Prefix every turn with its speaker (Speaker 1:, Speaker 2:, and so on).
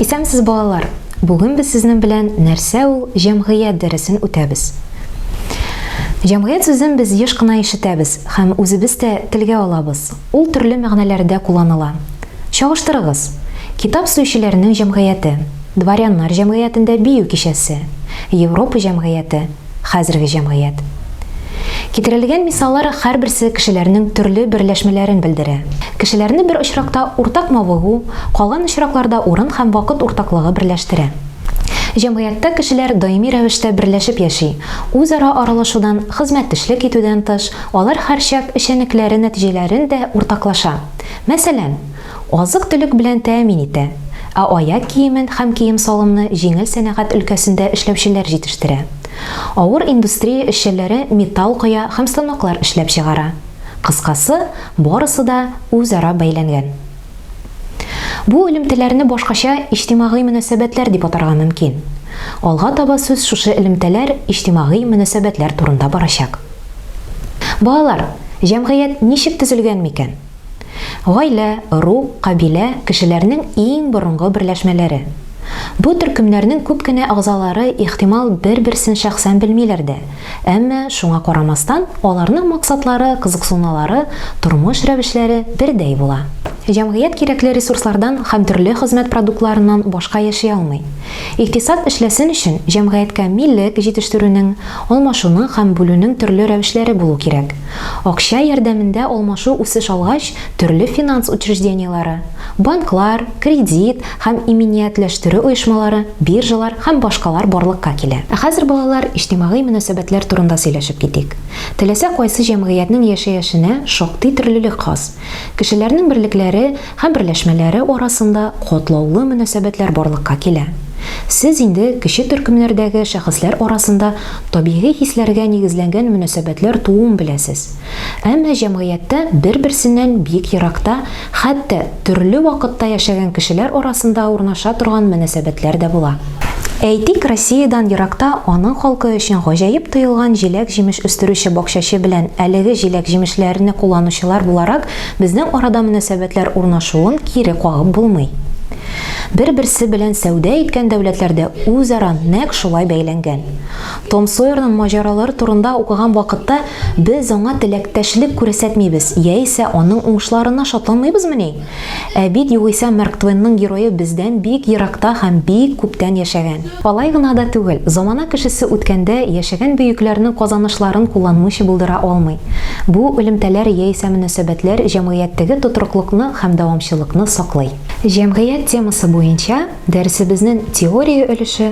Speaker 1: Исәнмесез, балалар! Бүген без сезнең белән нәрсә ул җәмгыять дәресен үтәбез. Җәмгыять сүзен без еш кына ишетәбез һәм үзебез дә телгә алабыз. Ул төрле мәгънәләрдә кулланыла. Чагыштырыгыз, Китап сөючеләрнең җәмгыяте, Дворяннар җәмгыятендә бию кичәсе, Европа җәмгыяте, хәзерге җәмгыять. Китерелгән мисаллар һәрберсе кешеләрнең төрле берләшмәләрен белдерә. Кешеләрне бер очракта уртак мавыгу, калган очракларда урын һәм вакыт уртаклыгы берләштерә. Җәмгыятьтә кешеләр даими рәвештә берләшеп яши, үзара аралашудан, хезмәттешлек итүдән тыш, Алар һәрчак эшчәнлекләре нәтиҗәләрен дә уртаклаша. Мәсәлән, азык-төлек белән тәэмин итә, ә аяк киемен һәм кием-салымны җиңел сәнәгать өлкәсендә эшләүчеләр җитештерә. Авыр индустрия эшчәнләре металл коя һәм станоклар эшләп чыгара. Кыскасы, барысы да үзара бәйләнгән. Бу элемтәләрне башкача иҗтимагый мөнәсәбәтләр дип атарга мөмкин. Алга таба сүз шушы элемтәләр, иҗтимагый мөнәсәбәтләр турында барачак. Балалар, җәмгыять ничек төзелгән микән? Гаилә, ру, кабилә, кешеләрнең иң борынгы берләшмәләре. Бу төркемнәрнең күп кенә әгъзалары, ихтимал, бер-берсен шәхсән белмиләр дә, Әмма, шуңа карамастан, аларның максатлары, кызыксыналары, тормыш рәвешләре бердәй була. Җәмгыять кирәкле ресурслардан һәм төрле хезмәт продуктларыннан башка яши алмый. Икътисад эшләсен өчен, җәмгыятькә милек җитештерүнең, алмашуның һәм бүлүнең төрле рәвешләре булу кирәк. Акча ярдәмендә алмашу үсеш алгач, төрле финанс учреждениеләре, банклар, кредит, һәм иминиятләштерү оешмалары, биржалар һәм башкалар барлыкка килә. Ә хәзер, балалар, иҗтимагый мөнәсәбәтләр турында сөйләшеп китик. Теләсә кайсы җәмгыятьнең яшәяшенә шактый төрлелек хас. Кешеләрнең берлекләре һәм берләшмәләре арасында катлаулы мөнәсәбәтләр барлыкка килә. Сез инде кече төркемнәрдәге шәхесләр арасында табигый хисләргә нигезләнгән мөнәсәбәтләр тууын беләсез. Әмма җәмгыятьтә бер-берсеннән бик еракта, хәтта төрле вакытта яшәгән кешеләр арасында урнаша торган мөнәсәбәтләр дә була. Әйтик, Россиядән еракта аның халкы өчен гаҗәеп тоелган җиләк-җимеш үстерүче бакчачы белән әлеге җиләк-җимешләрне кулланучылар буларак безнең арада мөнәсәбәтләр урнашуын кире кагып булмый. Бер-берсе белән сәүдә иткән дәүләтләрдә үзара нәкъ шулай бәйләнгән. Том Сойерның маҗаралары турында укыган вакытта без аңа теләктәшлек күрсәтмибез яисә аның уңышларына шатланмыйбызмыни? Ә бит югыйсә Марк Твенның герое бездән бик еракта һәм бик күптән яшәгән. Алай гына да түгел, замана кешесе үткәндә яшәгән бөекләрнең казанышларын кулланмыйча булдыра алмый. Бу элемтәләр яисә мөнәсәбәтләр җәмгыятьтәге тотрыклыкны һәм дәвамчылыкны саклый. Җәмгыять темасы буенча дәресебезнең теория өлеше,